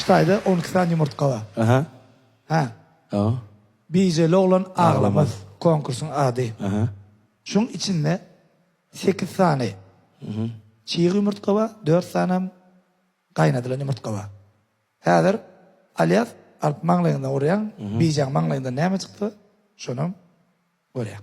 Şu taýda on iki sany ýumurtga bar. Aha. Hä. Hä. Bijeli oglan aglamaz konkursyň ady. Aha. Şuň içinde sekiz sany çig ýumurtga bar, dört sanam gaýnadylan ýumurtga bar. Häzir Alyas alyp maňlaýyňdan urýaň, bijäň maňlaýyndan näme çykdy, şonam görýäň.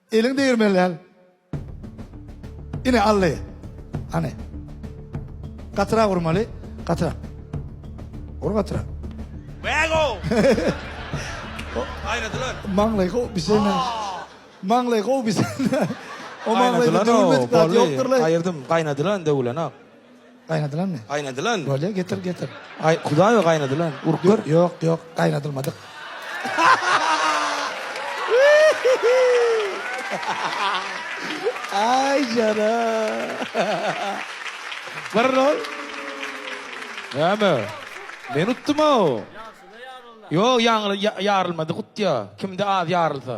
Eliň degirmeli däl. Ine aldy. Hany. Gatyrak urmaly. Gatyrak. Ur gatyrak. Wägo! Aýnadylar. Maňlaý gowy biseňä. Maňlaý gowy biseňä. O maňlaýda döwülmedik zat ýokdur-laý. Aýyrdym. Gaýnadylan döwülenok. Gaýnadylanmy? Gaýnadylan. Bolýa, getir, getir. Aý, Hudaýa gaýnadylan. Urup gör. Ýok, ýok, gaýnadylmadyk. Aý, jana. Bir rol. Näme? Men utdum-ow. Ýa şuny ýaryl. Ýok, ýaňyl ýarylmadyk utýa. Kimde az ýarylsa.